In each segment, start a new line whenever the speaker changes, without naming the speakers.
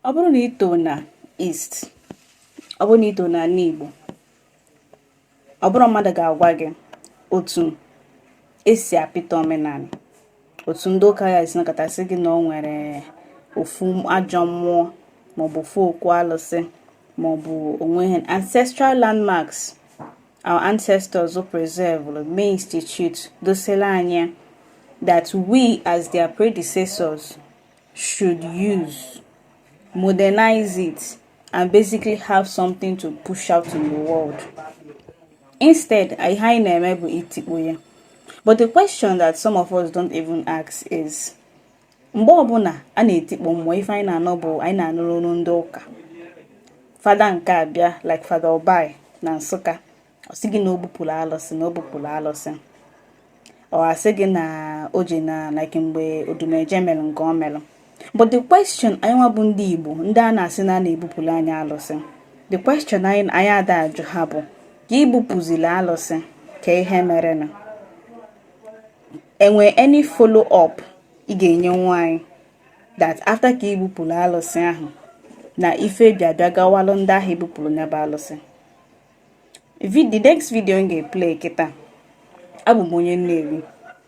ọ bụrụ na ito na East ọ bụrụ na ito na ala Igbo ọ bụrọ mmadụ ga-agwa gị otu esi apịta omenala otu ndị ụka ya esi na-akọtasị gị na o nwere ofu ajọ mmụọ maọbụ ofu okwu alụsị maọbụ o nwee ancestral landmarks our ancestors preservelu ma institute doselu anyị that we as their predecessors should use, modernize it, and basically have something to push out in the world. Instead, ihe anyị na-eme bụ itikpọ ya. But the question that some of us don't even ask is mgbe ọbụla a na-etikpọ mmụọ ife anyị na-anụ bụ anyị na-anụrụ n'ọnụ ndị ụka fada nke abịa like fada Obayi na Nsụka ọ sị gị na o bupụrụ alụsị na o bupụrụ alụsị ọ asị gị na o ji na like mgbe Odumeje mere nke o mere but the question anyị nwa bụ ndị Igbo ndị a na-asị na a na-ebupụrụ anyị alụsị the question anyị ada ajụ ha bụ ka ibupụziri alụsị kee ihe merenụ enwe any follow up ị ga-enyenwu anyị that after ka ibupụrụ alụsị ahụ na ife bịa bịa gawalụ ndị ahụ ebupụrụ nya bụ alụsị the next video m ga-eplay kịta abụ m onye Nnewi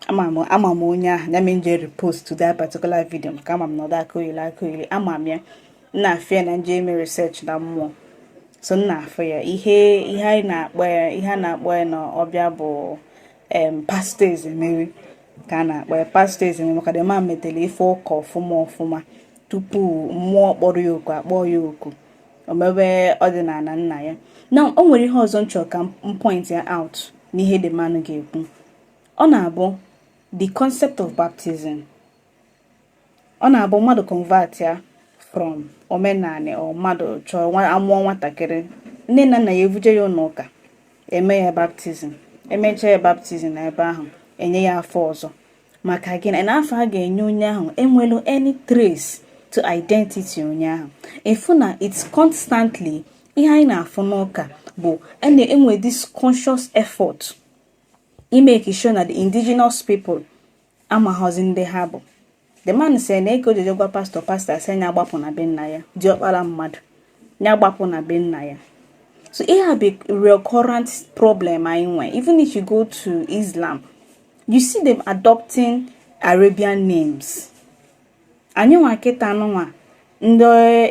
ama m onye ahụ ya me nji repostuo that particular video maka ama m na ọ da akọyeli akọyeli ama m ya n na-afụ ya na nje eme research na mmụọ so n na-afụ ya ihe ihe anyị na-akpọ ya ihe a na-akpọ ya na ọbịa bụ em pastọ Ezemewi ka a na-akpọ ya pastọ Ezemewi maka the man metelu ife ụka ọfụma ọfụma tupu mmụọ kpọrọ ya oku akpọọ ya oku o mebe ọdịnala nna ya na o nwere ihe ọzọ nchọ ka m pointia out n'ihe the man ahụ ga-ekwu ọ na-abụ the concept of baptism ọ na-abụ mmadụ convertia from omenala or mmadụ chọọ a mụọ nwatakịrị nne na nna ya evuje ya ụlọ ụka eme ya baptism emechaa ya baptism na ebe ahụ enye ya afa ọzọ maka gịnị na afa a ga-enye onye ahụ enwerọ any trace to identity onye ahụ ị fụ na it's constantly ihe anyị na-afụ n'ụka bụ e na-enwe this conscious effort imake sure na the indigenous people amaghọzi ndị ha bụ the man sị na ego ojojo gwa pastọ pastọ asị nya gbapụ na be nna ya diọkpara mmadụ ya gbapụ na be nna ya so ihe a bụ recurrent problem anyị nwe even if you go to islam you see them adopting arabian names anyị nwa kịta nụnwa ndị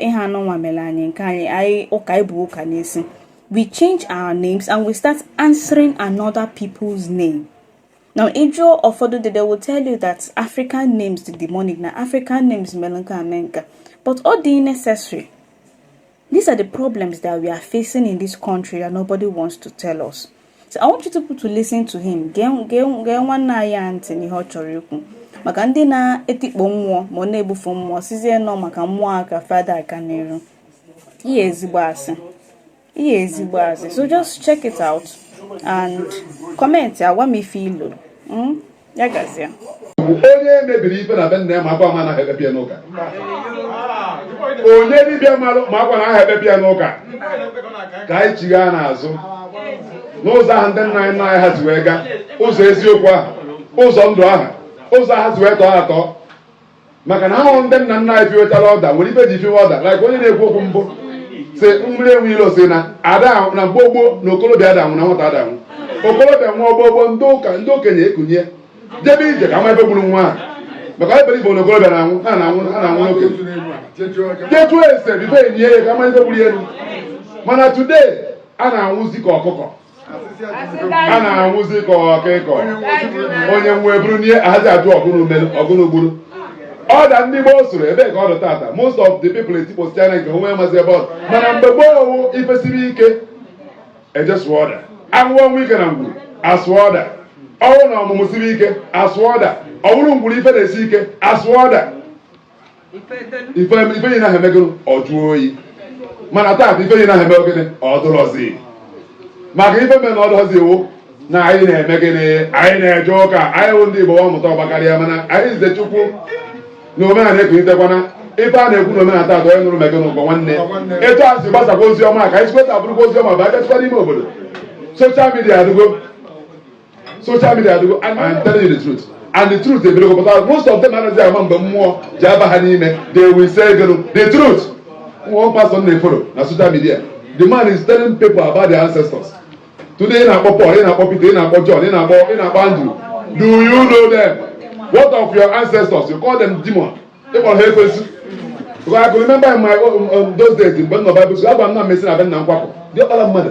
ihe a nụnwa mere anyị nke anyị anyị ụka ibu ụka n'isi we change our names and we start answering another people's name now ị jụọ ụfọdụ they will tell you that african names dị demonic na african names mere nke a mee nka but ọ dị necessary These are the problems that we are facing in this country that nobody wants to tell us. So I want you to listen to him. Gee nwanne anyị a ntị n'ihe ọ chọrọ ikwu. Maka ndị na-etikpo mmụọ ma na-ebufu mmụọ sịzie na ọ maka mmụọ a ka fa ada aga n'iru. Ihe ezigbo asị. Ihe ezigbo asị. So just check it out and comment agwa m ife i lo. Hmm? ya gazie
onye mebiri ife na be nna ya makwa na anaghị ekpebi ya n'ụka onye dibịa malụ makwa na aha ekpebi ya n'ụka ka anyị chighaa n'azụ n'ụzọ ahụ ndị nna anyị nna anyị ha si wee gaa ụzọ eziokwu ahụ ụzọ ndụ ahụ ụzọ ha si wee tọọ atọ maka na ahụrụ ndị nna nna anyị fiwetara ọda nwere ife e ji fiwe ọda like onye na-ekwu okwu mbụ si mmiri enwe ilo sị na ada ahụ- na mgbe gboo na okorobịa ada anwụ na nwata ada anwụ okorobịa nwụọ mgbe gboo ndị ụka ndị okenye ekunie jebe ije ka a ma ife gburu nwa ahụ maka anyị be Igbo na okorobịa na anwụ ha na anwụ ha na anwụ n'okenye jetu ese bife enyi ya ka a ma ife gburu ya elu mana today a na-anwụzi ka ọkụkọ a na-anwụzi ka ọkụkọ onye nwụọ e buru nie ada ajụ ọ gịnị mere ọ gịnị gburu ọda ndị gboo soro ebe ka ọ dị tata most of the people etikposịana nke o nwe amazi ebe ọ mana mgbe gboo ọ wụ ife siri ike e je sụọ ọda a nwụọ ọnwụ ike na ngwuru asụọ ọda ọ wụ na ọmụmụ siri ike asụọ ọda ọ wụrụ ngwuru ife na-esi ike asụọ ọda ife yi na emego ọ jụọ oyi mana taa ife yi na eme ogene ọ dụrọzi maka ife mere na ọ dụrọzi wụ na anyị na-eme gịnị anyị na-eje ụka anyị wụ ndị Igbo ọmụta ọgbakarịa mana anyị nze Chukwu na omenala ekunitekwana ife a na-ekwu na omenala taa onye nụrụ mege n'ụgbọ nwanne etu a si gbasakwa ozi ọma ka anyị si kweta abụrụkwa ozi ọma bụ abịachikwa n'ime obodo soshal midia adịgo social media adịgo and I'm telling you the truth and the truth ebidogo pụta most of them anaghị ama mgbe mmụọ ji aba ha n'ime they will say gịnụ the truth one pastor na-eforo na social media the man is telling people about their ancestors today ị na-akpọ Paul ị na-akpọ Peter ị na-akpọ John ị na-akpọ ị na-akpọ Andrew do you know them what of your ancestors you call them demon ị kpọọ ha ekwensu because I can remember in my own, um, those days mgbe m nọ Bible school a gwa m na m esi na be nna m kwapụ diọkpara mmadụ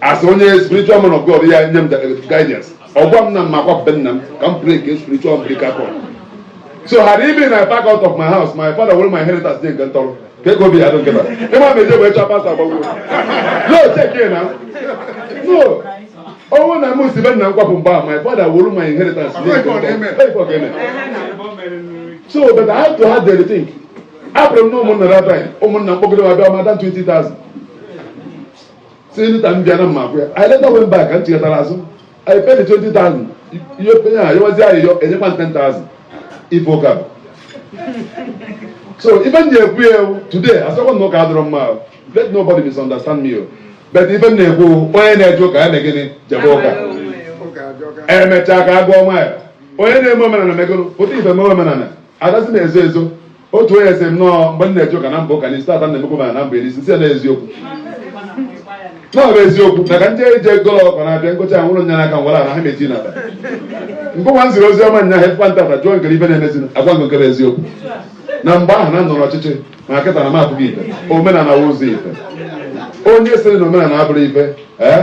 as onye spiritual man of God ya nye m guidance ọ gwa m na m makwa be nna m ka m break spiritual umbilical cord so had it been I pack out of my house my father where my inheritance dey nke ntọrọ ka ego bi ya dị kịta ịma m eje wee chọọ pasta gbagwo no check ya now no ọ wụ na m si be nna m kwapụ mgbe a my father where my inheritance dey nke ntọrọ Hey, fuck, amen. so but I have to have the thing apụrụ m na ụmụnna rabin ụmụnna mkpọgide ma bịa ma dan 20,000 si nta m bịara mma gwa ya I later went back m chighatara azụ and I paid the 20,000 ihe openye ha yewazi anyị yọ enyekwa 10,000 ife ụka bụ so ife m na-ekwu ya ewu today asịkwa na ụka adịrọ mma ahụ let nobody misunderstand me o but ife m na-ekwu onye na-eje ụka ya na gịnị jebe ụka emechaa ka a gụọ mile onye na-eme omenala megoro pụta ife mee omenala adazi na-ezo ezo otu onye sị m no mgbe m na-eje ụka na mba ụka n'isi tata na emekwa m ya na m very sincere na eziokwu na ọ bụ eziokwu na ka ndị eji ego ọkọ na-abịa ngocha ahụ ụlọ nya n'aka m were ala ha na-eti na ngụwa nziri ozi ọma nya hefụkwa ntata jụọ nkere ibe na-emezi agwa nke nkere eziokwu na mgbe ahụ na m nọ n'ọchịchị ma kịta na m apụta ife omenala wụ ụzọ ife onye sịrị na omenala abụrọ ife ee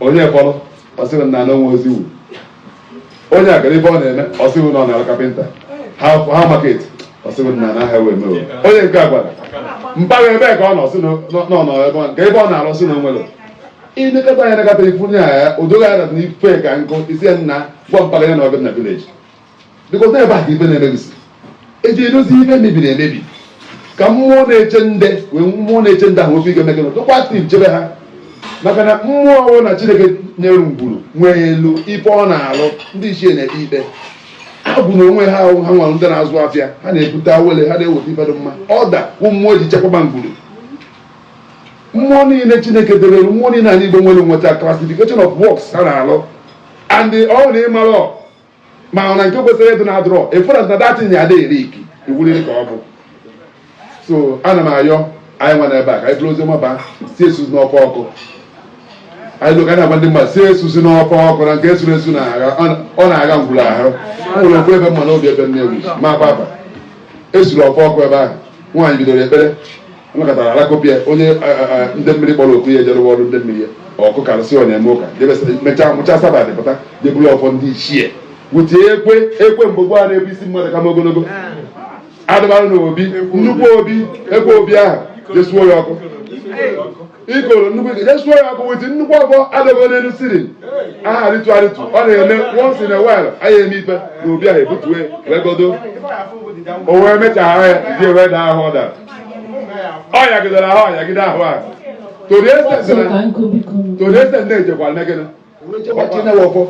onye kpọrọ ọ sịrị na anọ nwe oziwu onye a gara ebe ọ na-eme ọ sị wụ na ọ na-arụ kapịnta ha ha market ọ sị wụ na na ha wee mewe onye nke a gwara mpaghara ebe ka ọ nọ sị na ọ nọ ebe ọ- nke ebe ọ na-arụ sị na o nwere ilekọta ya nakọta ifu nye ya o doghị anya na ife ka nkụ isi ya nna gwa mpaghara ya na ọ bịa na village because ebe a ka ife na-emebisi e ji edozi ife mebiri emebi ka mmụọ na-eche ndị wee mmụọ na-eche ndị ahụ ofe ike mekere tụkwa tim chebe ha maka na mmụọ ọwụna chineke nyere ngwuru nwere ife ọ na-alụ ndị ichie na-ekpe ikpe ha bụ na onwe ha ahụ ha nwere ndị na-azụ afịa ha na-ebute awele ha na-eweta ife dị mma ọda wụ mmụọ ji chekwaba ngwuru mmụọ niile chineke debere mmụọ niile anyị igbo nwere nweta classification of works ha na-alụ and ọ na ịmara mana nke kwesịrị ịdị adịrọ ị fụrụ na that thing ya adịghị eri iki iwuliri ka ọ bụ so ana m ayọ anyị nwa n'ebe a ka anyị buru oziọma baa sị esuzina ọfọ ọkụ anyị luo ụka na-agwa ndị mmadụ sị esuzina ọfọ ọkụ na nke e suru esu na-agha ọ na-agha ngwuru ahụ nwere okwu ebe mma n'obi ebe nne ewu ma papa e suru ọfọ ọkụ ebe ahụ nwaanyị bidoro ekpere anakọtara alakọpịa onye ndị mmiri kpọrọ oku ya ejerụwa ọrụ ndị mmiri ya ọkụ karịsị ọ na-eme ụka mechaa mecha Sabbath pụta je buru ọfọ ndị ichie wute ekwe ekwe mgbe gboo na-ebu isi mmadụ kama ogologo adịbara na obi nnukwu obi ekwe obi ahụ je suo ya ọkụ ikoro nnukwu ike jesuo ya ọkụ with nnukwu ọkụ adọgo n'elu ceiling ahụ arịtu arịtu ọ na-eme once in a while anyị eme ife na obi ahụ ebutue wee godo o wee mechara ya ji wee daa ahụ ọ dara ọ yagidere ahụ ọ yagide ahụ ahụ tori ese na-ejekwara negịnị ọchịnewọfọ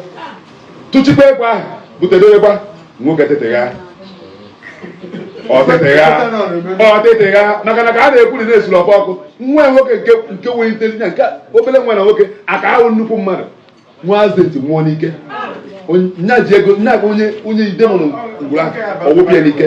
tụchikwa egwu ahụ butere egwu nwoke tetegha ọtetegha ọtetegha maka na ka a na-ekwu na na-esuru ọkụ ọkụ nwa nwoke nke nke nwere intelligence nke obere nwa na nwoke aka ahụ nnukwu mmadụ nwa azeti nwụọ n'ike nya ji ego nya bụ onye onye idemụrụ ngwụrụ ahụ ọgwụbịa n'ike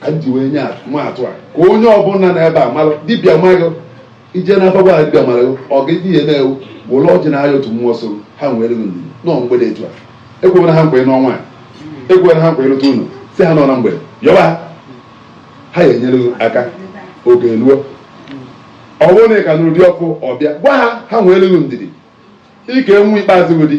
ka m ji wee nye maa atụ a ka onye ọbụla na ebe a malụ dibịa maghị ije na abagwa dibịa mara ọ ga ihe na-ewu were ọjị na aya otu mmụọ so ha nwere gị ndidi nọ mgbede etu a ekwebere ha mgbe n'ọnwa a ekwebere ha mgbe ịlụta unu si ha nọ na mgbede yọba ha ya enyere gị aka oge eluo ọ bụrụ na ị ka n'ụdị ọkụ ọbịa gwa ha ha nweere gị ndidi ike nwa ikpeazụ gị dị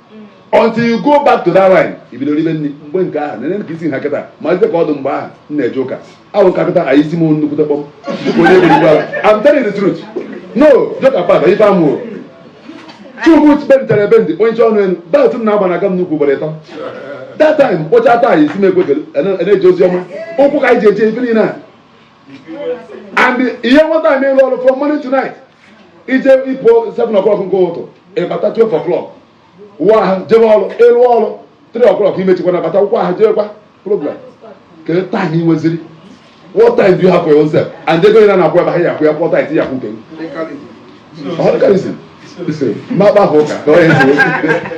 until you go back to that line ị bido ribe nri mgbe nke ahụ nene ka isi ha kịta malite ka ọ dụ mgbe ahụ m na-eje ụka ahụ ka kịta anyị isi m nnukwute kpọm dịka onye ebiri gwara I'm telling you the truth no joke apart ife amụrụ chukwu bentere ebe ndị onye ọnụ elu belt m na-agba na-aga m n'ukwu ugboro ịtọ that time kpọcha taa anyị isi m ekwe na-eje ozi ọma ụkwụ ka anyị ji eje ife niile a and ihe nwata a na-alụ ọrụ from morning to night ị je ị pụ 7 o'clock nke ụtụtụ ị bata 12 o'clock wụọ ahụ jebe ọrụ ị lụọ ọrụ 3 o'clock i mechikwa na bata wụkwa ahụ jebekwa program kedu time ị nweziri what time do you have for yourself and ego ị na-akwụ ebe ha ya akwụ ya kwụọ tithe ya kwụ nke ọdịkalizm mmakpa ahụ ụka ka onye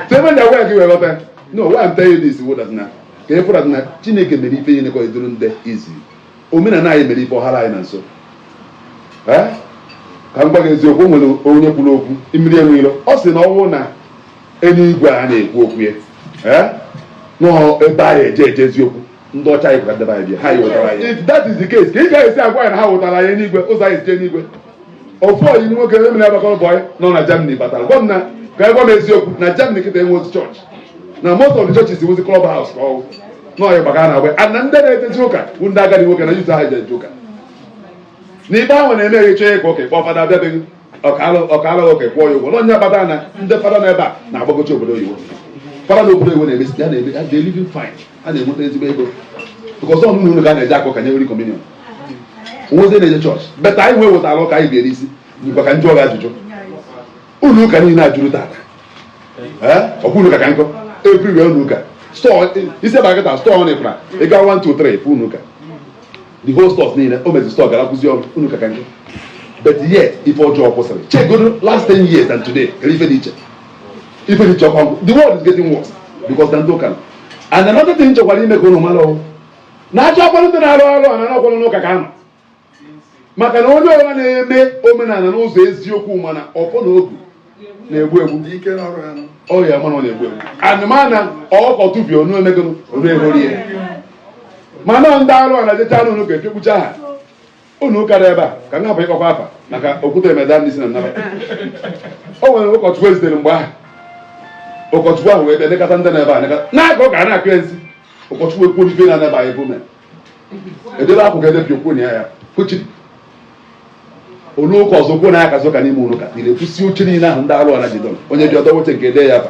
so ebe ndị agwa gị wee ghọta no why I'm telling you this wụ that na ka ị fụrụ na chineke mere ife ihe nekọ eduru ndị izi omenala anyị mere ife ọ hara anyị na nso Eh? ka m gwa gị eziokwu o nwere onye kwuru okwu mmiri enweghị ilo ọ sị na ọ bụrụ na eluigwe a na-ekwu okwu ya eh? na ọ ebe anyị eje eje eziokwu ndị ọcha anyị kwara ndebe anyị bịa ha anyị wetara anyị if that is the case ka ị ga-esi agwa anyị na ha wetara anyị enigwe ụzọ anyị si eje enigwe ofu oyi m nwoke mụ na ya gbakọrọ bọyị nọ na Germany batara gwa m na ka ya gwa m eziokwu na Germany kịta enwe otu chọọchị na most of the churches wuzi club house ka ọwụ n'ọyị gbagara na agba and na ndị na-ejezi ụka bụ ndị agadi nwoke na youth ha jeje ụka na ife ha na-eme ya ị chọọ ịka ụka kpọọ fada abịa be gị ọ kaa ụka kwụọ ya ụgwọ na ọ ya kpata na ndị fada na ebe a na-agbagocha obodo oyibo fada na obodo oyibo na-emesi ya na-eme they living fine ha na-enweta ezigbo ego because ọ n'ụlọ ka a na-eje aka ụka nye nri communion onwezi na-eje chọọchị better anyị wee wetara ụka anyị biere isi ngwa ka m jụọ gị ajụjụ ụlọ ụka niile ajụrụ tata ọ bụ ụlọ ụka ka nkọ everywhere ụlọ ụka i si ebe a kịta store na ịfra ị gaa 1 2 3 fụ ụlọ ụka the whole stores niile o mezi store gara kwụzi ọrụ ụlọ ụka ka nkọ but yet ife ọjọọ kwụsịrị chegodo last 10 years and today kedụ ife dị iche ife dị iche ọkwa the world is getting worse because na ndị ụka and another thing m chọkwara ime ka unu mara ọ wụ na a chọọ kwanụ ndị na-arụ arụ a na ọkwanụ n'ụka ka ha nọ maka na onye ọbụla na-eme omenala n'ụzọ eziokwu ma na ọfọ na ogu na-egbu egbu ọ ya-ama na ọ na-egbu egbu anụmana ọkọ tụbie onu emego onu ehori ya mana ndị arụ a na-ejecha n'ụnọ ụka efekpucha ha ụnọ ụka dị ebe a ka m hapụ ịkpọkwa afa maka okwute emeda ndị si na nnaba o nwere ụkọchukwu e zitere mgbe ahụ ụkọchukwu ahụ wee bịa nekata ndị nọ ebe a nekata na-aga ọ ga na-akọ ya nsi ụkọchukwu ekwu n'ife na anaba anyị bụme edebe akwụkwọ edebe okwu na ya ya kwuchi ụnọ ụka ọzọ kwuo na ya kazi ụka n'ime ụnọ ụka tiri ekwusi oche niile ahụ ndị arụ ọra jidọ onye bi ọdọ woche nke ede ya ba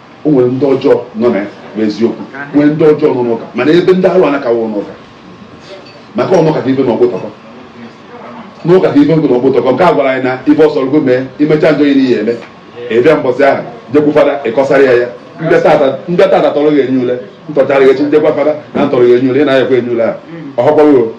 o nwere ndị ọjọọ nọ na ya bụ eziokwu nwee ndị ọjọọ nọ n'ụka mana ebe ndị arụ a nọka wụ n'ụka maka ọnụ kata ibe na ọgbụtọkọ n'ụka ka ibe nkụ na ọgbụtọkọ nke a gwara anyị na ibe ọ sọrọ gị mee i mechaa njọ ihe ị ya-eme ị bịa mbọsị ahụ jekwu fada ị kọsara ya ya ndị tata tọrọ gị enye ule ntọchara gị echi njekwa fada na ntọrọ gị enye ule ị na-ayakwa enye ule ahụ ọhọkpọghị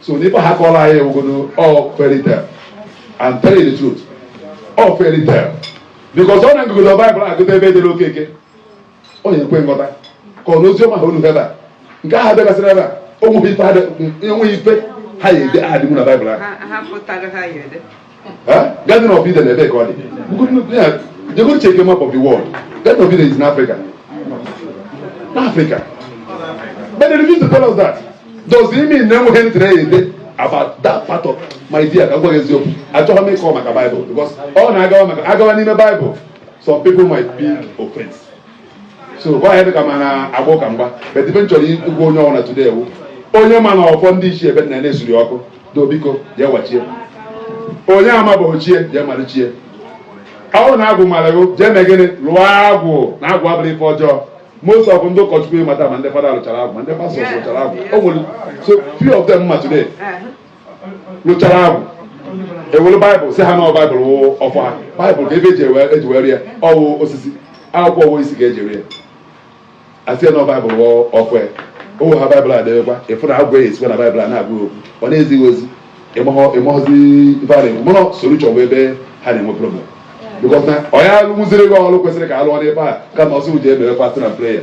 so na ife ha kọrọ anyị a wụgodo all fairy tale and tell you the truth all fairy tale because ọ na-agụgodo baịbụl agụta ebe e dere Okeke ọ ya ekwe nghọta ka ọ na ozi ọma ha unu ebe a nke ahụ abịagasịrị ebe a onweghị ife ha dị- enweghị ife ha ya ede adịbu na baịbụl ahụ ha ha pụtara ha ya ede Garden of Eden ebee ka ọ dị jegodo checkie map of the world Garden of Eden is in Africa n'Africa but they refuse to tell us that does it mean na enweghị ndị na-ede about that part of my dear ka m gwa gị eziokwu achọghị m ịkọ maka Bible because ọ na-agawa maka agawa n'ime Bible some people might be offense so ọ ga-adị ka m na-agba ụka mgba but ibe m chọrọ ịgwa onye ọbụla today wụ onye ma na ọfọ ndị ichie ebe nna ya na-esuri ọkụ do biko jee wachie onye ama bụ ochie jee malichie ọ wụrụ na agwụ mara gị jee mee gịnị lụọ agwụ na agwụ abụrọ ife ọjọọ most of ndị ụkọchukwu ị ma taa ma ndị fada lụchara agwụ ma ndị pastor lụchara agwụ o nwere so few of them ma today lụchara agwụ ewere baịbụl sị ha na baịbụl wụ ọfọ ha baịbụl kee ibe e ji ewe- e ji mere ya ọ wụ osisi akwụkwọ ọ wụ osisi ka e ji mere ya a sị ya na baịbụl wụ ọfọ ya o were baịbụl a debekwa ife agwụ ya esikwa na baịbụl a na-agwa ya okwu ọ na-ezi ya ozi ịmahọ- ịmahọzi ife a na-ekwu mana solution wụ ebe ha na-enwe problem because na ọ ya alụmụziri gị ọrụ kwesịrị ka a lụọ n'ebe a kama ọ sị gị jee mere fasting na prayer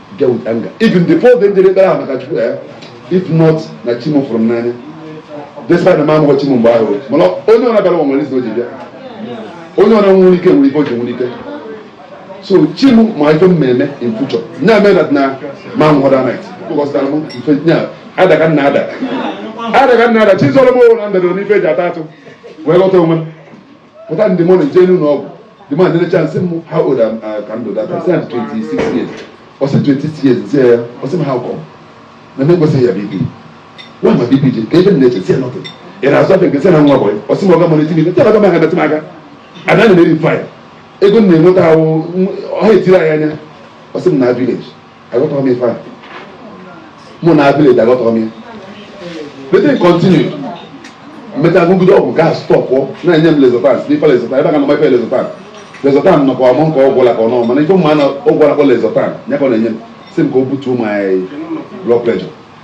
get with anger even before then jere ekpere ahụ maka chukwu ya if not na chi m fụrụ m n'anya despite na m amaghọ chi m mgbe ahụ mana onye ọna bịara ụwa nwere izu o ji bịa onye ọ na-enwe ike nwere ife o ji nwere ike so chi m ma ife m na-eme in future nya mee that na ma m hụrụ night kpọkọsịtara m ife nya adaga nna ada adaga nna ada chi zọrọ m ọ wụ na m dadoro n'ife eji ata atụ wee ghọta onwe m pụta in the morning jee n'ụlọ ọgwụ the man lecha m sị m how old am uh, ka ndụ data sị 26 years ọ sị 26 years m sị ya ọ sị m how come na m ekwesịghị ya BP nwa ma BP dị ka ebe m na-eche sị ya nothing ị na-azụ afịa nke sị na nwa bọyị ọ sị m ọga m ọ na-eti m ife ọga m aga metụ m aka ada na-eri faya ego m na-enweta ahụ ọha etiri anyị anya ọ sị m na village aghọtaghị m ife a mụ na village aghọtaghị m ya the thing continued mecha agụgide ọgwụ gaa stop na-enye m lexotan ife lexotan ebe a ga-anọ ife lexotan lexotan nọkwa ọ wụ nke ọgwụ ụla ka ọ n'ọma mana ife m ma na ọgwụ ụla ka ọ lexotan ya ka ọ na-enye m si m ka o butuo my blood pressure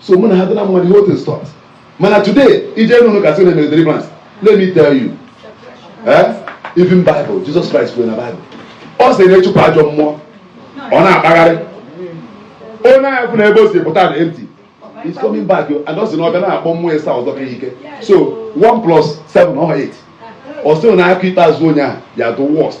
so mụ na ha dị na mmadụ ihe otu stọt mana today ị jee nụrụ ka a sị na emere deliverance let me tell you eh? even bible jesus christ kwuru na bible ọ sị na a chụpụ ajọ mmụọ ọ na-akpagharị onye ahụ fụ na ebe o si pụta dị empty it's coming back and ọ sị na ọ bịa na-akpọ mmụọ ịsaa ọzọ ka ike so 1 plus 7 ọ 8 ọ sị na nke ikpeazụ onye ahụ ya the worst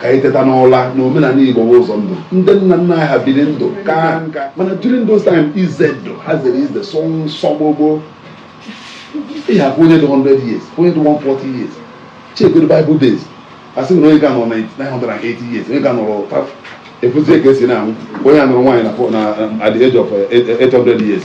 ka anyị teta n'ụla na omenala igbo bụ ụzọ ndụ ndị nna nna anyị ha biri ndụ kaa nka mana during those time ize ndụ ha zere ize sọ nsọ gboo gboo ị ga-ahụ onye dị 100 years onye dị 140 years chegodo bible days a sị na onye ga-anọ 980 years onye ga nọrọ efuzie ka e si na-anwụ onye a nụrụ nwaanyị na at the age of 800 eh, eh, years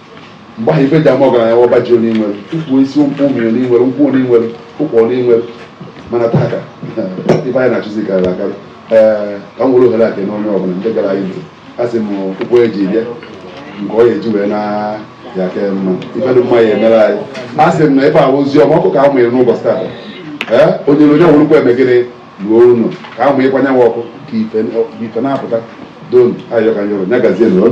mgbe ahụ ife e ji ama ọgaranya wụ ọba ji onye nwere ukwu isi ukwu ụmụ onye nwere nkwụ onye nwere ụkwụ onye nwere mana taa ka ife anyị na-achụzi karịrị akarị ee ka m were ohere a kene onye ọbụla ndị gere anyị ntị a sị m ụkwụ eji bịa nke ọ ga-eji wee naa ya ka mma ife dị mma ya emere anyị a sị m na ife ahụ ozi ọma ọkụ ka a mụnyere n'ụbọchị taa ee onye onye wụrụkwa eme gịnị ruo ụlọ ka a mụnyekwa nyanwa ọkụ ka ife na-apụta don ayọ ka m yọrọ ya gazie nụrụ